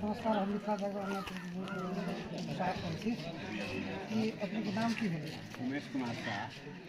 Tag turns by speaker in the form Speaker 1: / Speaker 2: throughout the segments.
Speaker 1: नमस्कार हम मिथिला जगह स्वागत करैत छी कि अपनेके नाम की भेलै उमेश कुमार साह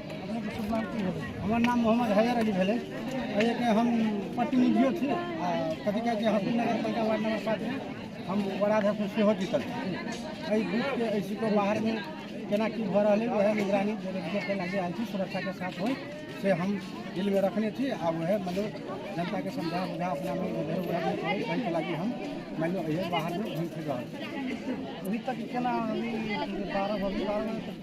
Speaker 1: हमर नाम मोहम्मद हैदर
Speaker 2: अली भेलै एहिके हम प्रतिनिधियो छी आ कथी कहै छै हसन नगर पालिका वार्ड नंबर सातमे हम वडाध्यक्ष सेहो जीतल छी एहि बीचके एहि सीटो बाहरमे केना की भऽ रहलै वएह निगरानी देखै लागि आयल छी सुरक्षाके साथ होइ से हम दिलमे रखने छी आ वएह मतलब जनताके समझा बुझा अपना में उधर उधर नहि करै ताहिके लागि हम मानि लिअ एहि बाहरमे घुमि फिर रहल छी अभी तक
Speaker 1: केना अभी बारह बजे बारह बजे तक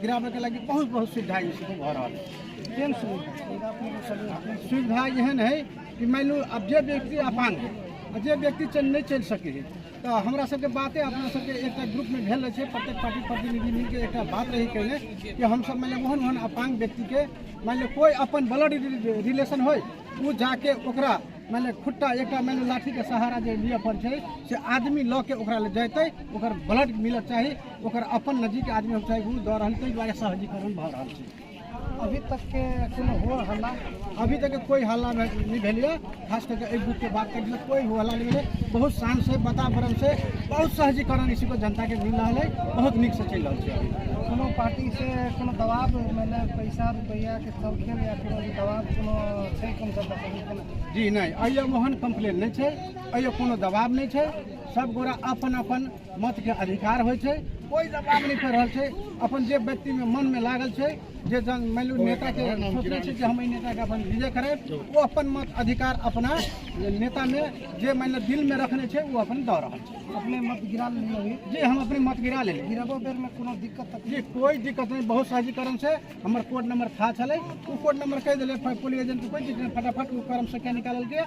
Speaker 2: गिराबैके लागि बहुत बहुत सुविधा जे छै भऽ रहल केहन सुविधा सुविधा एहन हइ कि मानि लू आब जे व्यक्ति अपान हइ आ जे व्यक्ति चल नहि चलि सकै हइ तऽ हमरा सबके बाते अपना सबके एकटा ग्रुपमे भेल रहै छै प्रत्येक पार्टी प्रतिनिधि मिलके एकटा बात रही कयने कि हमसब मानि लिअ ओहन ओहन अपांग व्यक्तिके मानि लिअ कोइ अपन ब्लड रिलेशन होइ ओ जाके ओकरा मानि लिअ खुट्टा एकटा मानि लिअ लाठीके सहारा जे लिअ पड़ै छै से आदमी लऽ के ओकरा लग जेतै ओकर ब्लड मिलक चाही ओकर अपन नजीक आदमी हम चाहे दऽ रहल ताहि दुआरे सहजीकरण भऽ रहल छै अभी तक के
Speaker 1: कोनो हो हल्ला अभी तक कोई
Speaker 2: हल्ला नहीं भेलिए खास करके एहि बुक के बात करिए कोई हो हल्ला नहीं भेलै बहुत शान से वातावरण से बहुत सहजीकरण इसी को जनता के मिल रहा है बहुत निक से चल रहा है कोनो पार्टी से
Speaker 1: कोनो दबाव मैंने पैसा रुपया के सब खेल या कोनो दबाव कोनो छै कम जनता जी नहीं अयो
Speaker 2: मोहन कंप्लेन नहीं छै अयो कोनो दबाव नहीं छै सब गोरा अपन अपन मत के अधिकार होइ छै कोई दबाव नहीं कर रहल छै अपन जे व्यक्ति में मन में लागल छै जे जन मान लू नेता के सोचले छै जे हम एहि नेता के अपन विजय करे वो अपन मत अधिकार अपना नेता में जे मान लू दिल में रखने छै वो अपन दऽ रहल छै अपने मत गिरा लेलियै
Speaker 1: अभी जी हम अपने मत गिरा
Speaker 2: लेली गिराबो बेर में कोनो
Speaker 1: दिक्कत तक जी कोई दिक्कत
Speaker 2: नहीं बहुत सहजीकरण से हमर कोड नंबर था छलै ओ कोड नंबर कहि देले पुलिस एजेंट कोई दिक्कत नहीं फटाफट ओ कर्म से क्या निकालल गया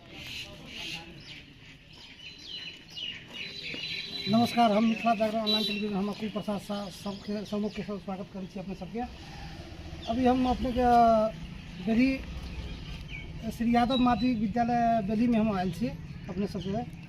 Speaker 1: नमस्कार हम मिथिला जागरण ऑनलाइन टेलीविजन हम अकुल प्रसाद शाह सबके समूह के साथ स्वागत करै छी अपने सबके अभी हम अपने के बेली श्री यादव माध्यमिक विद्यालय बेली में हम आयल छी अपने सबके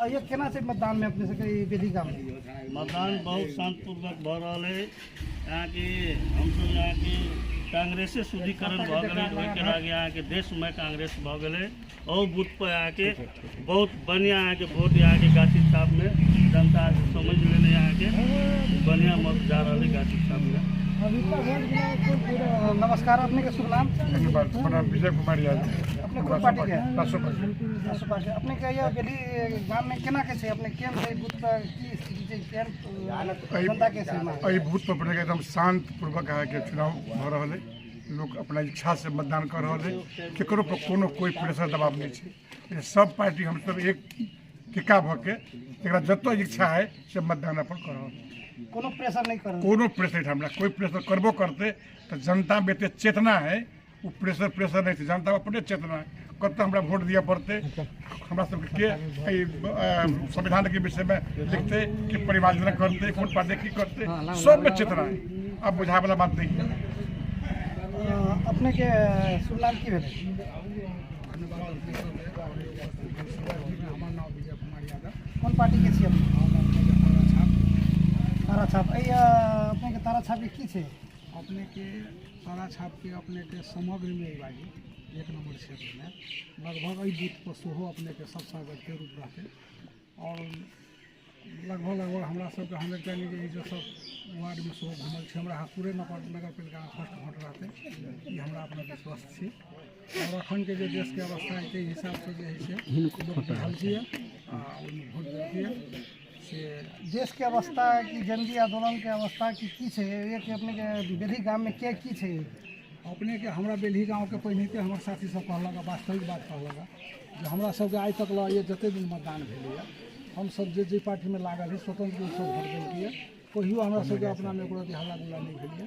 Speaker 3: अइयो केना
Speaker 1: छै मतदान में अपने सबके ई बेदी गाम में मतदान
Speaker 3: बहुत शांतिपूर्वक भऽ रहल है यहाँ की हमसब यहाँ की कांग्रेसे शुद्धिकरण भऽ गेलै ओहिके आगे यहाँ के देश में कांग्रेस भऽ गेलै और बूथ पर यहाँ के बहुत बढ़िया यहाँ के वोट यहाँ के गाछी छाप में जनता समझ लेने यहाँ के बढ़िया मत जा रहल है गाछी छाप में अभी तक वोट गिरा कोन पूरा
Speaker 1: नमस्कार अपने के शुभ नाम हमारा विजय
Speaker 4: कुमार यादव
Speaker 1: एहि बूथ पर अपने के एकदम
Speaker 4: शांत पूर्वक अहाँ के चुनाव भ रहल है लोग अपना इच्छा से मतदान कर रहल है केकरो पर कोनो कोई प्रेशर दबाव नहीं छै ये सब पार्टी हम सब एक टिका भ के एकरा जतऽ इच्छा है से मतदान अपन कर रहल है। कोनो प्रेशर
Speaker 1: नहीं कर कोनो प्रेशर हमरा कोई
Speaker 4: प्रेशर करबो करते तो जनता में एते चेतना है ओ प्रेशर प्रेशर नहि छै जनता अपने चेतना कतऽ हमरा वोट दिअ पड़तै हमरा सबके के एहि अ, संविधान के विषय में लिखते कि परिमार्जना करते कोन पार्टी की करते सब में चेतना है अब बुझाए वाला बात नहीं है
Speaker 1: अपने के शुभ नाम की भेलै कोन पार्टी के छी अपने तारा छाप एहि अ, अपने के तारा छाप के की छै अपने के
Speaker 5: सारा छापके अपनेके समग्रमे बाजी एक नम्बर क्षेत्रमे लगभग एहि बूथपर सेहो अपनेके सब सागरके रूप रहतै आओर लगभग लगभग हमरा सबके हमे कहली जे एहिसँ सब वार्डमे सेहो घुमल छै हमरा हसुरे नगर नगरपालिकामे फर्स्ट भोट रहतै ई हमरा अपना विश्वास छी आओर एखनके जे देशके अवस्था छै ताहि हिसाबसँ जे है से लोक बुझलकैए आ ओहिमे भोट देलकैए से देशके
Speaker 1: अवस्था कि जनकी आन्दोलनके अवस्था कि की छै एक अपनेके बेली गाममे के की छै अपनेके
Speaker 5: हमरा बेली गाँवके पहिनेके हमर साथी सब कहलक वास्तविक बात कहलक जे हमरा सबके आइ तक लए जते दिन मतदान भेलैए हमसब जे जे पार्टीमे लागल है स्वतंत्र रूपसँ वोट देलकैए कहियो हमरा सबके अपनामे एको रति हल्ला गुल्ला नहि भेलैए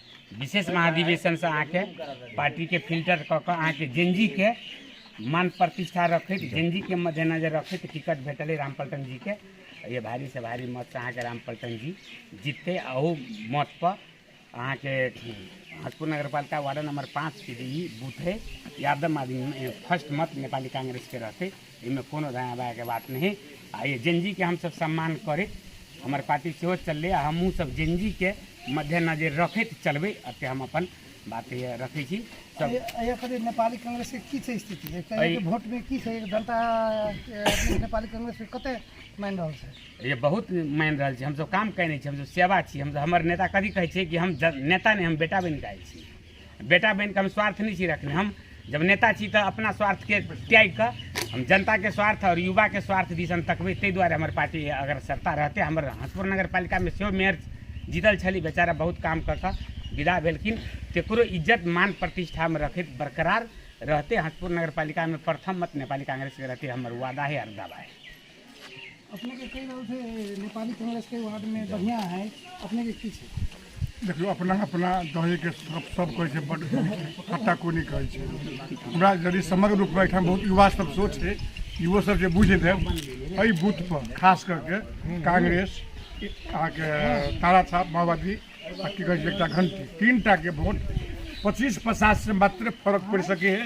Speaker 6: विशेष महाधिवेशनसँ अहाँके पार्टीके फिल्टर कऽ कऽ अहाँके जेनजीके मान प्रतिष्ठा रखैत जेनजीके मद्देनजर रखैत टिकट भेटलै रामपल्टन जीके ये भारी से भारी मतसँ अहाँके रामपल्टन जी जीततै आ ओ मतपर अहाँके हजपुर नगरपालिका वार्ड नम्बर पाँचके जे ई बूथ हइ यादव आदमी फर्स्ट मत नेपाली काङ्ग्रेसके रहतै एहिमे कोनो धन्यवादके बात नहि है आ ई जेनजीके हमसभ सम्मान करै हमर पार्टी सेहो चललै आ हमहूँ सब जेनजीके मद्देनजरि रखैत चलबै एते हम अपन बात रखै छी सब नेपाली
Speaker 1: कांग्रेसके की छै स्थिति वोटमे की छै जनता नेपाली कांग्रेसके कते मानि रहल छै ये बहुत मानि
Speaker 6: रहल छै हमसभ काम कयने छी हमसभ सेवा छी हमसभ हमर नेता कभी कहै छै कि हम नेता नहि हम बेटा बनि कऽ आयल छी बेटा बनिके हम स्वार्थ नहि छी रखने हम जब नेता छी तऽ अपना स्वार्थके त्यागि कऽ हम जनताके स्वार्थ आओर युवाके स्वार्थ दिस हम तकबै ताहि दुआरे हमर पार्टी अगर सत्ता रहतै हमर हसपुर नगर पालिकामे सेहो मेयर जीतल छली बेचारा बहुत काम कऽ कऽ विदा भेलखिन ककरो इज्जत मान प्रतिष्ठामे रखैत बरकरार रहतै हसपुर नगर पालिकामे प्रथम मत नेपाली काङ्ग्रेसके रहतै हमर वादा है आओर दावा है
Speaker 1: अपने के कई रहल थे नेपाली
Speaker 4: कांग्रेस के वार्ड में बढ़िया है अपने के की छै देखियो अपना अपना दहे के सब सब कहै छै बड कत्ता कोनी कहै छै हमरा यदि समग्र रूप में एहिठाम बहुत युवा सब सोच छै युवो सब जे बुझि देब एहि बूथ पर खास करके कांग्रेस अहाँके तारा साहब माओवादी आ की कहै छै एकटा घंटी तीन टा के वोट पच्चीस पचास से मात्र फर्क पड़ि सकै है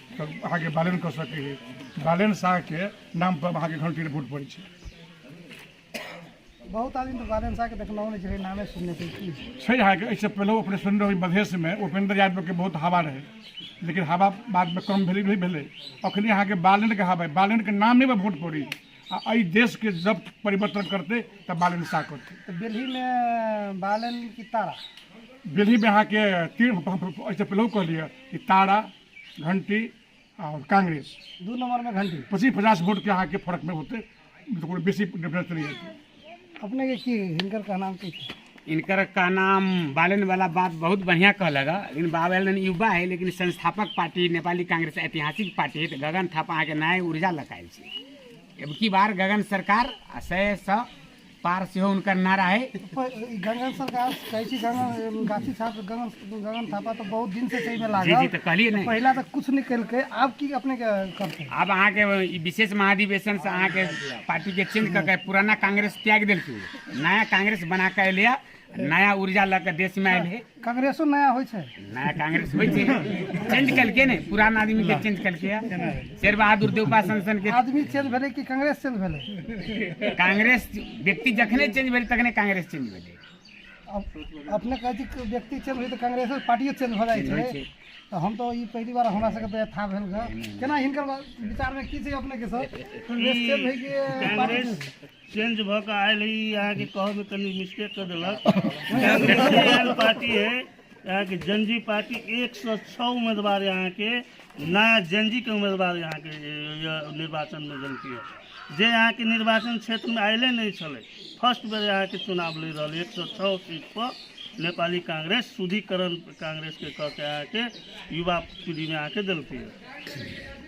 Speaker 4: अहाँके बैलेंस कऽ सकै है बैलेंस शाहके नाम पर अहाँके घंटी वोट पड़ै छै बहुत आदमी तऽ बैलेंस शाहके देखलहुँ
Speaker 1: नहि छै नामे सुनने छै की छै अहाँके एहिसँ
Speaker 4: पहिले अपने सुनने रहबै मधेशमे उपेंद्र यादवके बहुत हवा रहै लेकिन हवा बादमे कम भेलै नहि भेलै अखनी अहाँके बालेनके हवा है बालेनके नामे पर वोट पड़ी आ एहि देशके जब परिवर्तन करतै तऽ बालेन शाह करतै तऽ
Speaker 1: दिल्लीमे
Speaker 4: बालन की तारा दिल्लीमे अहाँके तीन एहिसँ पहिले कहलियै कि तारा घंटी और कांग्रेस दू नंबर में घंटी
Speaker 1: पच्चीस पचास वोट के अहाँके
Speaker 4: फर्क में होते तो कोनो बेसी डिफरेंस चलि जाते अपने के
Speaker 1: की हिनकर कहनाम की छै? इनकर का
Speaker 6: नाम बालन वाला बात बहुत बढ़िया कहलक हँ। लेकिन बालन युवा है लेकिन संस्थापक पार्टी नेपाली कांग्रेस ऐतिहासिक पार्टी है तो गगन थापा अहाँके नया ऊर्जा लकायल छै अब की बार गगन सरकार आ सए सए पार सेहो हुनकर ना रहे गंगन सरकार
Speaker 1: कहै छी गंगन गाछी छात्र गंगन गंगन थापा तऽ बहुत दिन से सही में लागल जी जी तऽ कहलिए ने
Speaker 6: पहिला
Speaker 1: तऽ
Speaker 6: कुछ नहीं कलके
Speaker 1: आब की अपने के करते आब अहाँ के
Speaker 6: विशेष महाधिवेशन से अहाँ के पार्टी के चेंज करके पुराना कांग्रेस त्याग देलके नया कांग्रेस बना के एलिया नया ऊर्जा लऽ कऽ देशमे आयल है कांग्रेसो नया होइ
Speaker 1: छै नया कांग्रेस होइ छै
Speaker 6: चेंज केलकै ने पुरान आदमी के चेंज केलकै या शेर बहादुर देवपा संसन के आदमी चेंज भेलै कि कांग्रेस
Speaker 1: चेंज भेलै कांग्रेस
Speaker 6: व्यक्ति जखने चेंज भेलै तखने कांग्रेस चेंज भेलै अब-
Speaker 1: अपने कहै छी कि व्यक्ति चेंज होइ तऽ कांग्रेसो पार्टियो चेंज भऽ चेंज होइ जाइ छै छै तऽ हम तऽ ई पहिली बार हमरा सबके तऽ था भेल ग केना हिनकर बा- विचारमे की छै अपने के सर कांग्रेस चेंज होइ कि पार्टी चेंज?
Speaker 3: चेंज भऽ कऽ आयल ई अहाँके कहऽमे कनि मिस्टेक कऽ देलक अहाँके एहन पार्टी है अहाँके जनजी पार्टी एक सौ छः उम्मीदवार अहाँके नया जनजी के उम्मीदवार अहाँके ये निर्वाचन में जनती है जे अहाँके निर्वाचन क्षेत्र में आयले नहीं छलै फर्स्ट बेर अहाँके चुनाव लड़ रहल एक सौ छः सीट पर नेपाली कांग्रेस शुद्धिकरण कांग्रेस के कऽ के अहाँके युवा पीढ़ी में अहाँके देलती है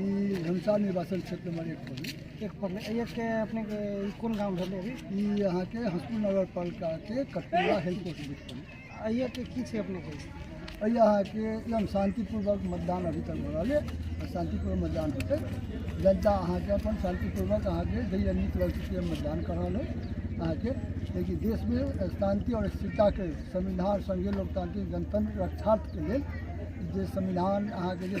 Speaker 1: ई घनसा
Speaker 2: निर्वाचन क्षेत्र नंबर एक पर ई। एक पर नहि। एक के
Speaker 1: अपने के ई कोन गांव भेलै अभी ई अहाँके हसपुर
Speaker 2: नगर पालिका के कटपुरा हेल्थ पोस्ट बीच पर आ एक के की छै अपने
Speaker 1: के एहि अहाँके
Speaker 2: एकदम शान्तिपूर्वक मतदान अभी तक हो रहल है शान्तिपूर्वक मतदान होतै जनता अहाँके अपन शान्तिपूर्वक अहाँके जहिया नीक लगतै से मतदान कर रहल है अहाँके लेकिन देशमे शान्ति आओर स्थिरताके संविधान संघीय लोकतांत्रिक गणतंत्र रक्षार्थके लेल जे संविधान अहाँके जे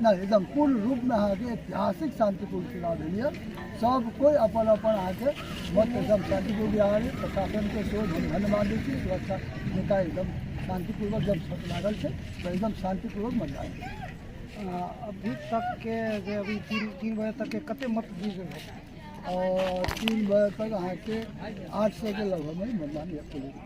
Speaker 1: नहि एकदम पूर्ण
Speaker 2: रूपमे अहाँके ऐतिहासिक शान्तिपूर्ण चुनाव भेलैए सब कोइ अपन अपन अहाँके मत एकदम शान्तिपूर्ण बिहार प्रशासनके सेहो हम धन्यवाद दै छी सुरक्षा नेता एकदम शान्तिपूर्वक जब शर्त लागल छै तऽ एकदम शान्तिपूर्वक मतदान भेल। अभी तक
Speaker 1: के जे अभी तीन तीन बजे तक के कते मत गिर गेल है? और
Speaker 2: तीन बजे तक अहाँके आठ सए के लगभगमे मतदान भेल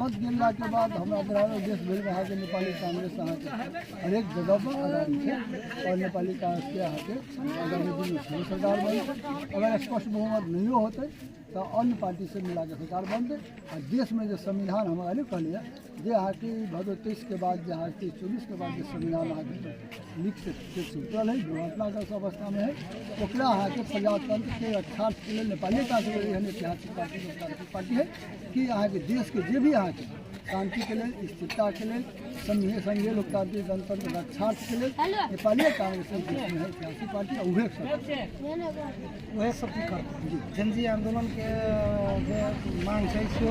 Speaker 1: मत
Speaker 2: गिरला के बाद हमरा ग्राम देश भरि में अहाँके नेपाली कांग्रेस अहाँके हरेक जगह पर आगामी छै और नेपाली कांग्रेस के अहाँके आगामी दिन में फेर सरकार बनतै अगर स्पष्ट बहुमत नहियो होतै तऽ अन्य पार्टी से मिला के सरकार बनतै आ देश में जे संविधान हम अरे कहलियै जे अहाँके ई भदो तेईस के बाद जे अहाँके चौबीस के बाद जे संविधान अहाँके नीक से से सुतल है दुर्घटनाग्रस्त अवस्था में है ओकरा अहाँके प्रजातंत्र के अठारह के लेल नेपाली कांग्रेस एहन ऐतिहासिक पार्टी पार्टी है कि अहाँके देशके जे भी अहाँके शान्तिके लेल स्थिरताके लेल सङ्गे सङ्गे लोकतान्त्रिक गणतन्त्र रक्षाके लेल नेपाली काङ्ग्रेस सियासी पार्टी उहे उहे
Speaker 1: सब की करतै जनजी आन्दोलनके जे मांग छै से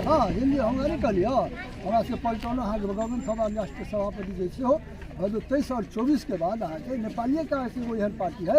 Speaker 1: हँ
Speaker 2: हिन्दी हम नहि कहलियै हमरा सबके पलटौनो अहाँके बगौन सभा राष्ट्रीय सभापति जे छै हो ताहि साल चौबीसके बाद अहाँके नेपालिए काङ्ग्रेस एगो एहन पार्टी है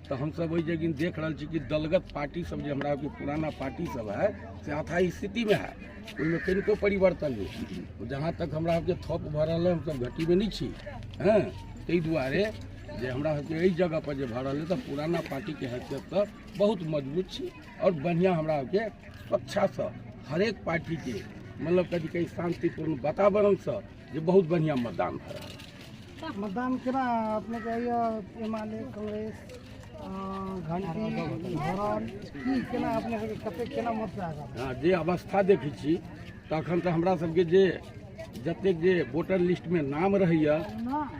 Speaker 7: तऽ हमसभ ओहि जगिन देख रहल छी कि दलगत पार्टी सब जे हमरा के पुराना पार्टी सब है से अथा स्थिति में है ओहिमे कनिको परिवर्तन नहि जहाँ तक हमरा सबके थप भऽ रहल है हमसभ घटीमे नहि छी हँ ताहि दुआरे जे हमरा सबके एहि जगह पर जे भऽ रहल है तऽ पुराना पार्टी के हैसियत तऽ बहुत मजबूत छी आओर बढ़िआँ हमरा सबके स्वच्छासँ हरेक पार्टी के मतलब कथी कहै शान्तिपूर्ण वातावरणसँ जे बहुत बढ़िआँ मतदान भऽ रहल है मतदान केना
Speaker 1: अपनेके होइए एम एल ए कांग्रेस घंटी धरन की केना अपने सबके
Speaker 7: कते
Speaker 1: केना मत
Speaker 7: हँ जे अवस्था देखै छी तऽ एखन तऽ हमरा सबके जे जतेक जे वोटर लिस्टमे नाम रहैए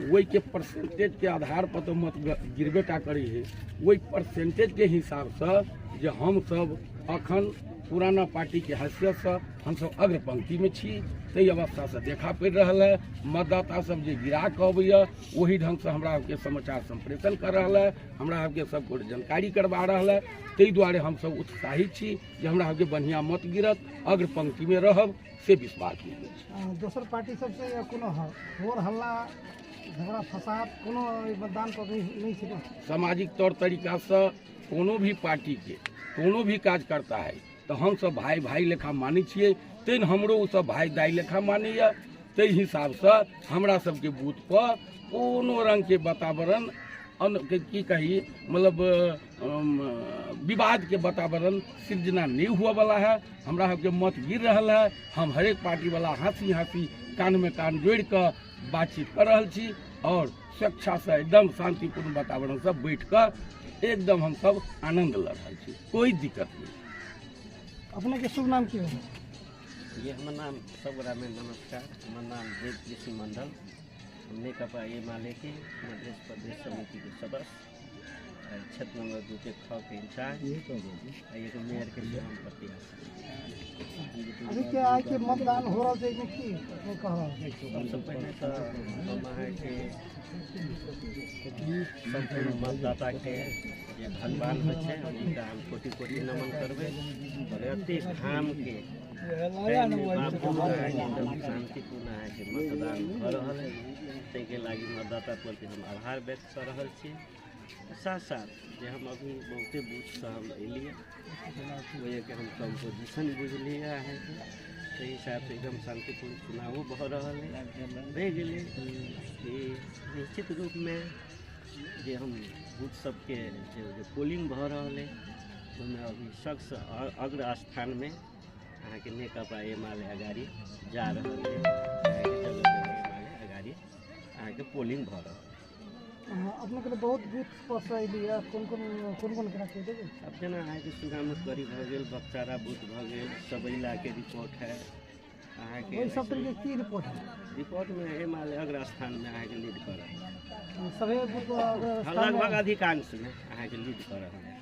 Speaker 7: ओहिके परसेंटेजके आधारपर तऽ मत गिरबे टा करै है ओहि परसेंटेजके हिसाबसँ जे हमसभ एखन पुराना पार्टीके हैसियतसँ हमसभ अग्र पंक्तिमे छी ताहि अवस्थासँ देखा पड़ि रहल है मतदाता सब जे गिरा कऽ अबैया ओहि ढङ्गसँ हमरा सबके समाचार सम्प्रेषण कर रहल है हमरा सबके सब गोटे जानकारी करबा रहल है ताहि दुआरे हमसभ उत्साहित छी जे हमरा सबके बढ़िआँ मत गिरत अग्र पंक्तिमे रहब से विश्वास मिलल दोसर पार्टी सबसँ
Speaker 1: कोनो होर हल्ला झगड़ा फसाद कोनो मतदान पर नहि छै सामाजिक तौर
Speaker 7: तरीकासँ कोनो भी पार्टीके कोनो भी काज करता है तऽ हमसभ भाय भाय लेखा मानै छियै तैँ ने हमरो ओसभ भाय दाइ लेखा मानैए ताहि हिसाबसँ हमरा सभके बूथपर कोनो रङ्गके वातावरण अन के- की कही मतलब अम, विवादके वातावरण सृजना नहि हुअवला है हमरा सभके मत गिर रहल है हम हरेक पार्टीवला हँसी हँसी कानमे कान जोड़ि कऽ बातचीत कऽ रहल छी आओर स्वेच्छासँ एकदम शान्तिपूर्ण वातावरणसँ बैठि कऽ एकदम हमसभ आनन्द लऽ रहल छी कोइ दिक्कत नहि
Speaker 1: अपनेके शुभ नाम की भेल ये हमर
Speaker 8: नाम सबगोटामे नमस्कार हमर नाम देव कृषि मण्डल हम नेकपा एमालेके मधेश प्रदेश समितिके सदस्य छत नंबर दू के छः के इंचार्ज आ एगो मेयर के लिए हम प्रत्याशी
Speaker 1: अभी के आए के मतदान हो रहा है कि नहीं कह रहा है
Speaker 8: सबसे पहले तो हम अहाँ के सम्पूर्ण मतदाता के जे भगवान होइ छै हुनका हम कोटि कोटि नमन करबै और एते घाम के टाइम में बाबू अहाँ के एकदम शांतिपूर्ण अहाँ के मतदान भऽ रहल है ताहिके लागि मतदाता प्रति हम आभार व्यक्त कऽ रहल छी साथ साथ जे हम अभी बहुते बूथसँ हम अयलियै ओहिके हम कम्पोजिशन बुझलियै अहाँके ताहि हिसाबसँ एकदम शान्तिपूर्ण चुनावो भऽ रहल अछि रहि गेलै कि निश्चित रूपमे जे हम बूथ सभके जे जे पोलिंग भऽ रहल अइ ओहिमे अभी सबसँ अ- अग्र स्थानमे अहाँके नेकपा एमाले अगाडि जा रहल अइ अहाँके जगह जगह एमाले अगाडि अहाँके पोलिंग भऽ रहल अहाँ अपने
Speaker 1: के बहुत बूथ पर से अयली है कोन कोन कोन कोन केना कहि देबै अब जेना अहाँके
Speaker 8: सुगामुसगरी भऽ गेल बक्सारा बूथ भऽ गेल सबैला के रिपोर्ट है अहाँके ओहि सब तरीके की रिपोर्ट
Speaker 1: है रिपोर्ट में है माल
Speaker 8: अग्र स्थान में अहाँके लीड कर रहल है सभे बूथ पर
Speaker 1: अगर लगभग अधिकांश
Speaker 8: में अहाँके लीड कर रहल है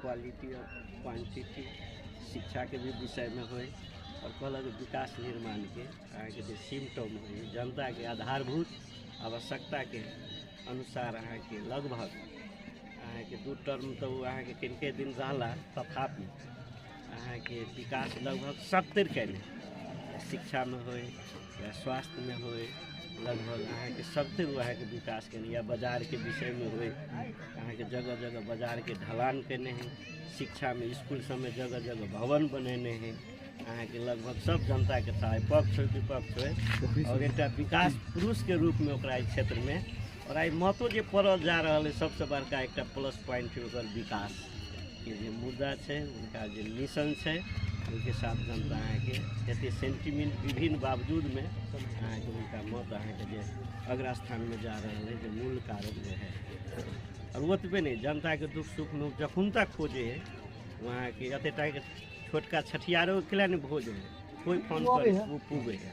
Speaker 8: क्वालिटी और क्वांटिटी शिक्षा के भी विषय में होय और कहलक विकास निर्माण के अहाँ के जे सिम्टम होय जनता के आधारभूत आवश्यकता के अनुसार अहाँ के लगभग अहाँ के दू टर्म तो अहाँ के किनके दिन रहला तथापि अहाँके विकास लगभग सब तरि कयले शिक्षामे होइ या स्वास्थ्यमे होइ लगभग अहाँके सब तरि अहाँके विकास कयने या बाजारके विषयमे होइ अहाँके जगह जगह बाजारके ढलान कयने हइ शिक्षामे इसकुल सबमे जगह जगह भवन बनेने हइ अहाँके लगभग सब जनताके चाहे पक्ष होइ विपक्ष होइ आओर एकटा विकास पुरुषके रूपमे ओकरा एहि क्षेत्रमे आओर आइ महतो जे पड़ल जा रहल अइ सबसँ बड़का एकटा प्लस पॉइंट छै ओकर विकास के जे मुद्दा छै हुनका जे मिशन छै ओहिके साथ जनता अहाँके एतेक सेंटिमेंट विभिन्न बावजूदमे अहाँके हुनका मत अहाँके जे अगला स्थानमे जा रहल अइ जे मूल कारण जे है आओर ओतबे नहि जनताके दुख सुख लोक जखन तक खोजे है वहाँके एतेक टाके छोटका छठियारो के लिए ने भोज है कोइ फोन पर ओ पूगे है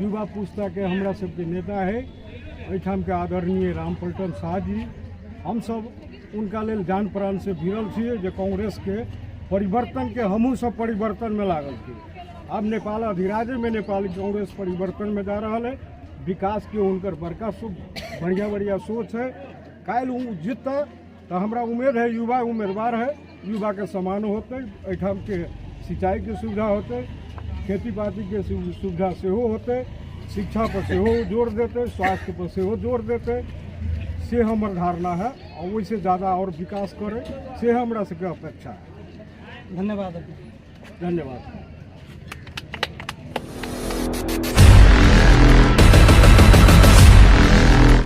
Speaker 5: युवा पुस्ताके हमरा सबके नेता है एहिठाम के आदरणीय रामपल्टन शाह जी हमसब उनका लेल जान प्राण से भिड़ल छी जे कांग्रेस के परिवर्तन के हमहूँ सब परिवर्तन में लागल छी आब नेपाल अधिराजे में नेपाल कांग्रेस परिवर्तन में जा रहा है विकास के उनकर बड़का सो बढ़िया बढ़िया सोच है काल्हि ओ जीतता तऽ हमरा उमेद है युवा उम्मीदवार है युवाके समान होतै एहिठामके सिंचाइके सुविधा होतै खेती पातीके सुविधा सेहो होतै शिक्षा पर सेहो जोर देतै स्वास्थ्य पर सेहो जोर देतै से हमर धारणा है आओर ओहिसँ जादा आओर विकास करै से हमरा सबके अपेक्षा है धन्यवाद धन्यवाद